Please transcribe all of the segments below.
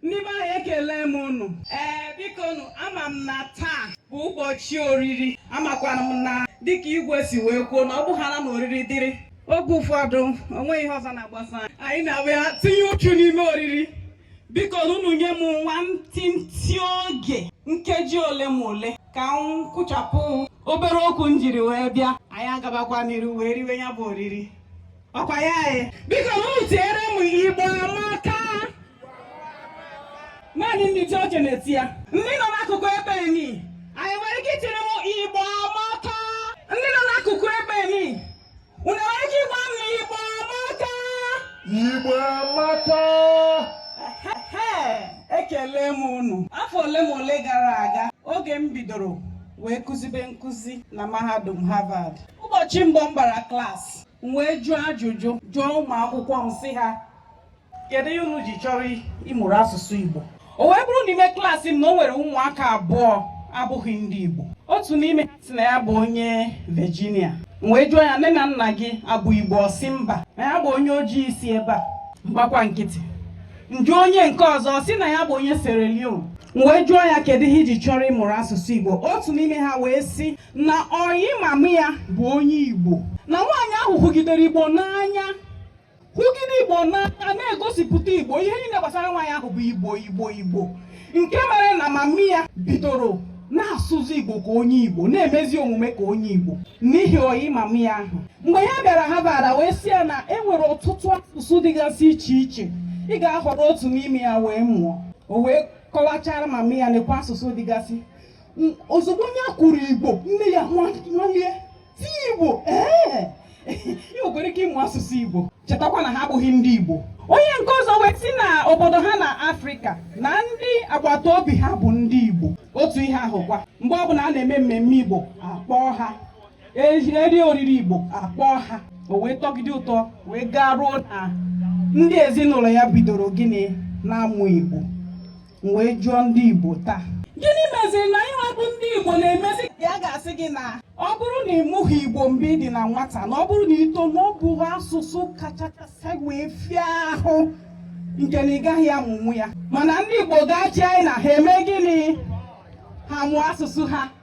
Ndị be anyị ekele m ụnụ. Ee, biko nụ, ama m na taa bụ ụbọchị oriri. Amakwara m na dịka igwe si wee kwuo na ọ bụhala na oriri dịrị. Oge ụfọdụ, o nweghị ihe ọzọ na-agbasa anyị. Anyị na-abịa tinye uchu n'ime oriri. Biko unu nye m nwantịntị oge nkeji ole ma ole ka m kwụchapụ obere okwu m jiri wee bịa. Anyị agabakwa n'iru wee riwe ya bụ oriri. Ọkwa ya anyị. Biko unu tiere m Igbo amaka. naanị ndị isi oche na-eti ya ndị nọ n'akụkụ ebe enyi anyị nwere ike itiere m igbo amaka ndị nọ n'akụkụ ebe enyi unu nwere ike ịgwa m na igbo amaka Igbo amaka! Ehe, ekele m unu afọ ole ma ole gara aga oge m bidoro wee kụzibe nkụzi na mahadum Harvard ụbọchị mbụ m bara klaasị m wee jụọ ajụjụ jụọ ụmụ akwụkwọ m sị ha kedu ihe unu ji chọrọ ịmụrụ asụsụ Igbo o wee bụrụ n'ime klaasị m na o nwere ụmụaka abụọ abụghị ndị Igbo otu n'ime ha sị na ya bụ onye Virginia m wee jụọ ya nne na nna gị a bụ Igbo ọ sị mba na ya bụ onye ojii si ebe a m gbakwa nkịtị m jụọ onye nke ọzọ sị na ya bụ onye Sierra Leone m wee jụọ ya kedu ihe i ji chọrọ ịmụrụ asụsụ Igbo otu n'ime ha wee sị na ọyị mama ya bụ onye Igbo na nwaanyị ahụ hụgidere Igbo n'anya hụgide igbo n'anya na-egosipụta igbo ihe niile gbasara nwaanyị ahụ bụ igbo igbo igbo nke mere na mami ya bidoro na-asụzi igbo ka onye igbo na-emezi omume ka onye igbo n'ihi ọyị mami ya ahụ mgbe ya bịara Harvard a wee sị ya na e nwere ọtụtụ asụsụ dịgasị iche iche ị ga-ahọrọ otu n'ime ya wee mụọ o wee kọwachara mami ya nekwa asụsụ dịgasị ozugbo onye kwuru igbo nne ya nwalie sị Igbo ee ị nwekwara ike ịmụ asụsụ Igbo chetakwa na ha abụghị ndị Igbo onye nke ọzọ wee sị na obodo ha na Afrịka na ndị agbata obi ha bụ ndị Igbo otu ihe ahụkwa mgbe ọbụla a na-eme mmemme Igbo a kpọọ ha eri oriri Igbo a kpọọ ha o wee tọgide ụtọ wee gaa ruo na ndị ezinụlọ ya bidoro gịnị na-amụ Igbo m wee jụọ ndị Igbo taa gịnị meziri na anyịnwa bụ ndị Igbo na-emezi a ga-asị gị na ọ bụrụ na ị mụghị Igbo mgbe ị dị na nwata na ọ bụrụ na i too na ọ bụ asụsụ kachakasị wee fịa ahụ nke na ị gaghị amụnwu ya mana ndị Igbo gaa China ha eme gịnị ha mụọ asụsụ ha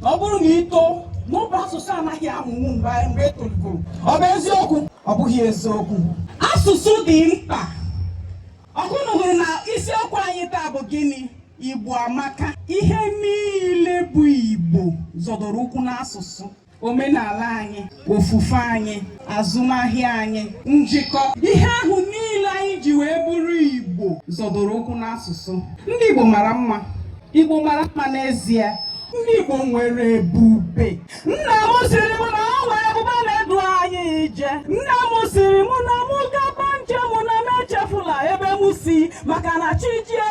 na ọ bụrụ na i too na ọ bụ asụsụ a naghị amụnwu mgbe mgbe e tolugoro ọ bụ eziokwu ọ bụghị eziokwu asụsụ dị mkpa ọkwa unu hụrụ na isiokwu anyị taa bụ gịnị igbo amaka ihe niile bụ igbo zọdoro ụkwụ n'asụsụ omenala anyị ofufe anyị azụmahịa anyị njikọ ihe ahụ niile anyị ji wee bụrụ igbo zọdoro ụkwụ n'asụsụ ndị igbo mara mma igbo mara mma n'ezie ndị igbo nwere ebube nna m sịrị m na o nwere ebube na-edu anyị ije nna m sịrị m na mụ gaba njem na m echefula ebe m si maka na chi jie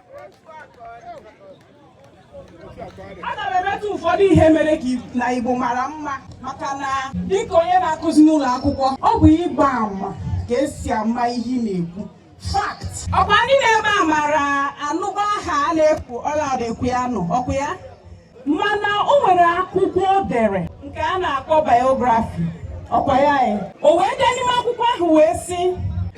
aga m emetụ ụfọdụ ihe mere ka na Igbo mara mma maka na dịka onye na-akụzi n'ụlọ akwụkwọ ọ bụ ịgba ama ka esi ama ihe ị na-ekwu fact ọkwa ndị nọ ebe a mara anụba aha a na-ekwu Olaudah Equiano ọkwa ya mana o nwere akwụkwọ o dere nke a na-akpọ biography ọkwa ya e. o wee dee n'ime akwụkwọ ahụ wee sị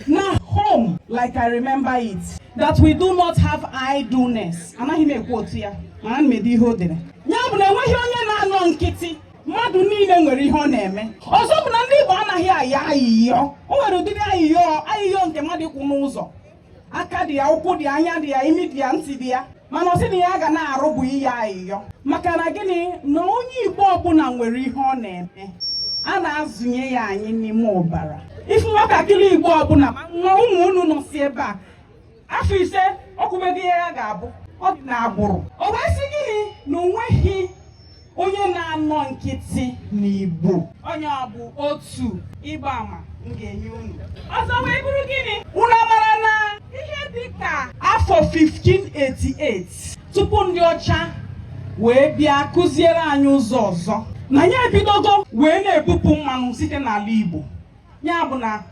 na home like I remember it that we do not have idleness anaghị m e-quote ya mana ana m ede ihe o dere ya bụ na enweghị onye na-anọ nkịtị mmadụ niile nwere ihe ọ na-eme ọzọ bụ na ndị Igbo anaghị ayọ ayịyọ o nwere ụdịrị ayịyọ ayịyọ nke mmadụ ịkwụ n'ụzọ aka dị ya ụkwụ dị ya anya dị ya imi dị ya ntị dị ya mana ọ sị na ihe ya ga na-arụ bụ ịyọ ayịyọ maka na gịnị na onye igbo ọbụla nwere ihe ọ na-eme a na-azụnye ya anyị n'ime ọbara ị fụ nwatakịrị igbo ọbụla ma ụmụ unu nọ si ebe a afọ ise o kwubego ihe ya ga-abụ ọ dị na agbụrụ o wee sị gịnị na onweghị onye na-anọ nkịtị n'Igbo onye a bụ otu ịgba ama m ga-enye unu ọzọ wee bụrụ gịnị unu mara na ihe dị ka afọ 1588 tupu ndị ọcha wee bịa kụziere anyị ụzọ ọzọ na anyị ebidogo wee na-ebupụ mmanụ site n'ala Igbo ya bụ na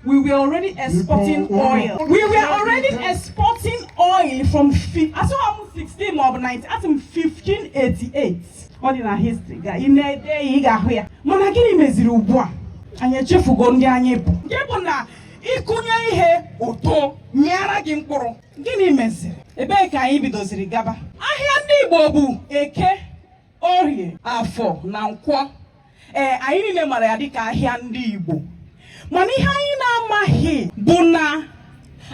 we were already exporting oil we were already exporting oil from asịghị m 16 ma ọ bụ 19 asị m 1588 ọ dị na history ga ị na-ede ya ị ga-ahụ ya mana gịnị meziri ugbu a anyị echefugo ndị anyị bụ nke bụ na ị kụnye ihe o too mịara gị mkpụrụ gịnị meziri ebee ka anyị bidoziri gaba ahịa ndị Igbo bụ eke Orie, Afọ na Nkwọ. Ee, anyị niile mara ya dịka ahịa ndị Igbo. Mana ihe anyị na-amaghị bụ na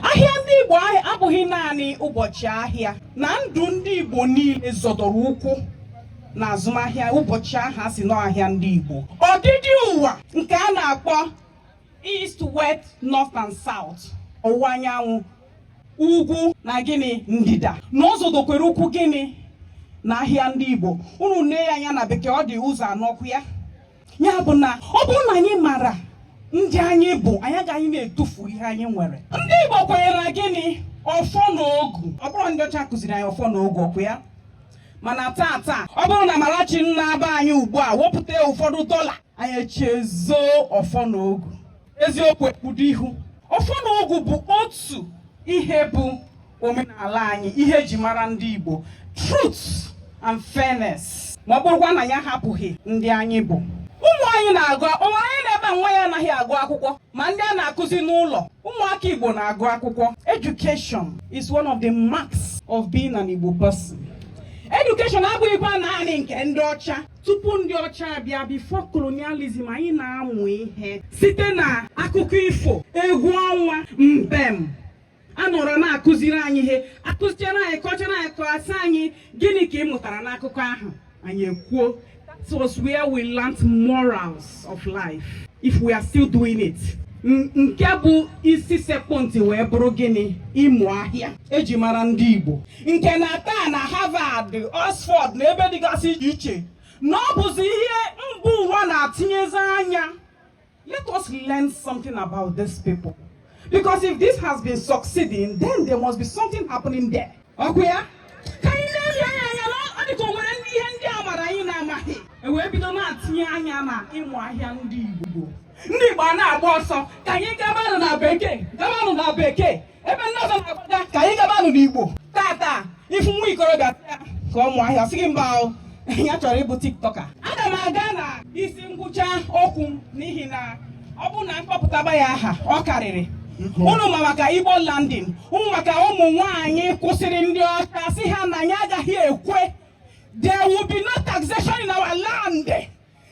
ahịa ndị Igbo abụghị naanị ụbọchị ahịa na ndụ ndị Igbo niile zọdoro ụkwụ na azụmahịa ụbọchị ahụ a sị na ọ ahịa ndị Igbo. Ọdịdị ụwa nke a na-akpọ East, West, North and South, ọwụwa anyanwụ, ugwu na gịnị ndịda na ọ zọdokwara ụkwụ gịnị na ahịa ndị Igbo unu nee ya anya na bekee ọ dị ụzọ anọ ọkwa ya ya bụ na ọ bụrụ na anyị mara ndị anyị bụ anyị agaghị na-etufu ihe anyị nwere ndị Igbo kwenyere na gịnị ọfọ na ogu ọ bụrọ ndị ọcha kụziri anyị ọfọ na ogu ọkwa ya mana taa taa ọ bụrụ na Amarachi nna be anyị ugbu a wepụta ụfọdụ dọla anyị echezo ọfọ na ogu eziokwu ekpudo ihu ọfọ na ogu bụ otu ihe bụ omenala anyị ihe eji mara ndị Igbo truth and fairness ma ọ bụrụkwa na ya hapụghị ndị anyị bụ ụmụ anyị na-agụ o nwere onye nọ ebe a nwa ya anaghị agụ akwụkwọ ma ndị a na-akụzi n'ụlọ ụmụaka Igbo na-agụ akwụkwọ education is one of the marks of being an Igbo person. education abụghịkwa naanị nke ndị ọcha tupu ndị ọcha abịa before colonialism anyị na-amụ ihe site na akụkọ ifo egwu ọnwa mbem a nọrọ na-akụziri anyị ihe a kụziere anyị kọchara anyị kọọ a sị anyị gịnị ka ị mụtara n'akụkọ ahụ anyị ekwuo it was where we learnt morals of life if we are still doing it nke bụ isi sekpụ ntị wee bụrụ gịnị ịmụ ahịa eji mara ndị Igbo nke na taa na Harvard Oxford na ebe dịgasị iche iche na ọ bụzi ihe mba ụwa na-atinyezi anya let us learn something about these people because if this has been succeeding then there must be something happening there okay ka anyị na-ele anya na ọ dịka o nwere ndị ihe ndị a mara anyị na-amaghị e wee bido na-atinye anya na ịmụ ahịa ndị Igbo ndị Igbo a na-agba ọsọ ka anyị gabanụ na bekee gabanụ na bekee ebe ndị ọzọ na-agbaga ka anyị gabanụ n'igbo tata ị fụ nwa ikorobịa sị ya ka ọ mụọ ahịa ọ sị gị mba o ya chọrọ ịbụ TikToker aga m aga na isi ngwụcha okwu m n'ihi na ọ bụrụ na m kpọpụtaba ya aha ọ karịrị unu ma maka igbo landing unu maka ụmụ nwanyị kwụsịrị ndị ọcha sị ha na anyị agaghị ekwe there will be no taxation in our land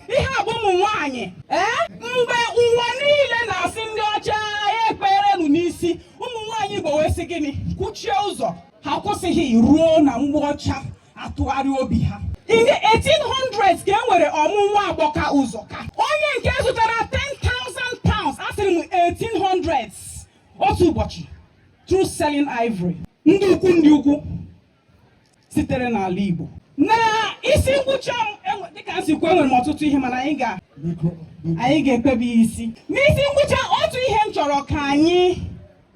ihe a bụ ụmụ nwaanyị ee mgbe ụwa niile na-asị ndị ọcha ya ekperenu n'isi ụmụ nwaanyị igbo wee sị gịnị kwuchie ụzọ ha kwụsịghị ruo na mgbe ọcha atụgharị obi ha in the 1800s ka e nwere Ọmụ Nwagbọka Ụzọka onye nke zụtara 10,000 pounds asịrị m 1800s otu ụbọchị through selling ivory ndị ukwu ndị ukwu sitere n'ala Igbo na isi ngwụcha ee dịka m si kwuo enwere m ọtụtụ ihe mana anyị ga anyị ga-ekpebi isi n'isi ngwụcha otu ihe m chọrọ ka anyị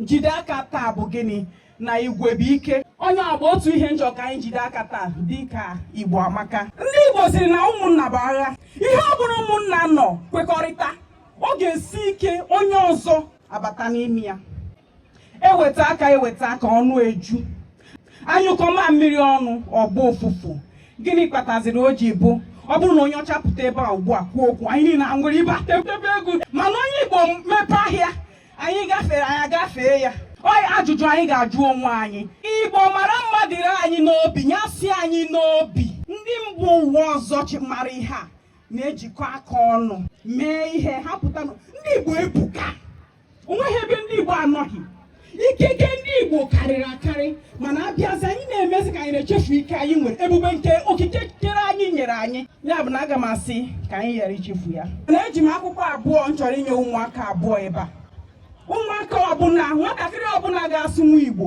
jide aka taa bụ gịnị na igwe bụ ike onye agba otu ihe m chọrọ ka anyị jide aka taa dịka igbo amaka ndị igbo sịrị na ụmụnna bụ agha ihe ọ bụrụ ụmụnna nọ kwekọrịta ọ ga-esi ike onye ọzọ abata n'ime ya eweta aka eweta aka ọnụ eju anyụkọ mamịrị ọnụ ọ gbọọ ụfụfụ gịnị kpataziri o ji bụ ọ bụrụ na onye ọcha pụta ebe a ugbu a kwuo okwu anyị niile aṅụrịbe etebe egwu mana onye igbo mepe ahịa anyị gafere anyị agafee ya oyi ajụjụ anyị ga-ajụ onwe anyị igbo mara mma dịrị anyị n'obi ya si anyị n'obi ndị mba ụwa ọzọ mara ihe a na-ejikọ aka ọnụ mee ihe ha pụta ndị igbo ebuka onweghị ebe ndị Igbo anọghị ikike ndị Igbo karịrị akarị mana abịazi anyị na-emezi ka anyị na-echefu ike anyị nwere ebube nke okike kere anyị nyere anyị ya bụ na aga m asị ka anyị ghara ichefu ya na eji m akwụkwọ abụọ m chọrọ inye ụmụaka abụọ ebe a ụmụaka ọbụla nwatakịrị ọbụla ga-asụnwu Igbo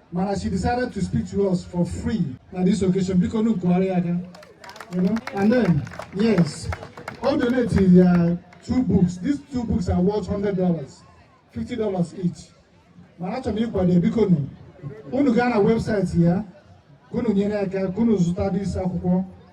mana she decided to speak to us for free na this occasion biko nu kụgharịa aka you know and then yes o donate ya two books these two books are worth hundred dollars fifty dollars each mana achọrọ m ịkwado biko nu unu gaa na website ya ka unu nyere aka ka unu zụta this akwụkwọ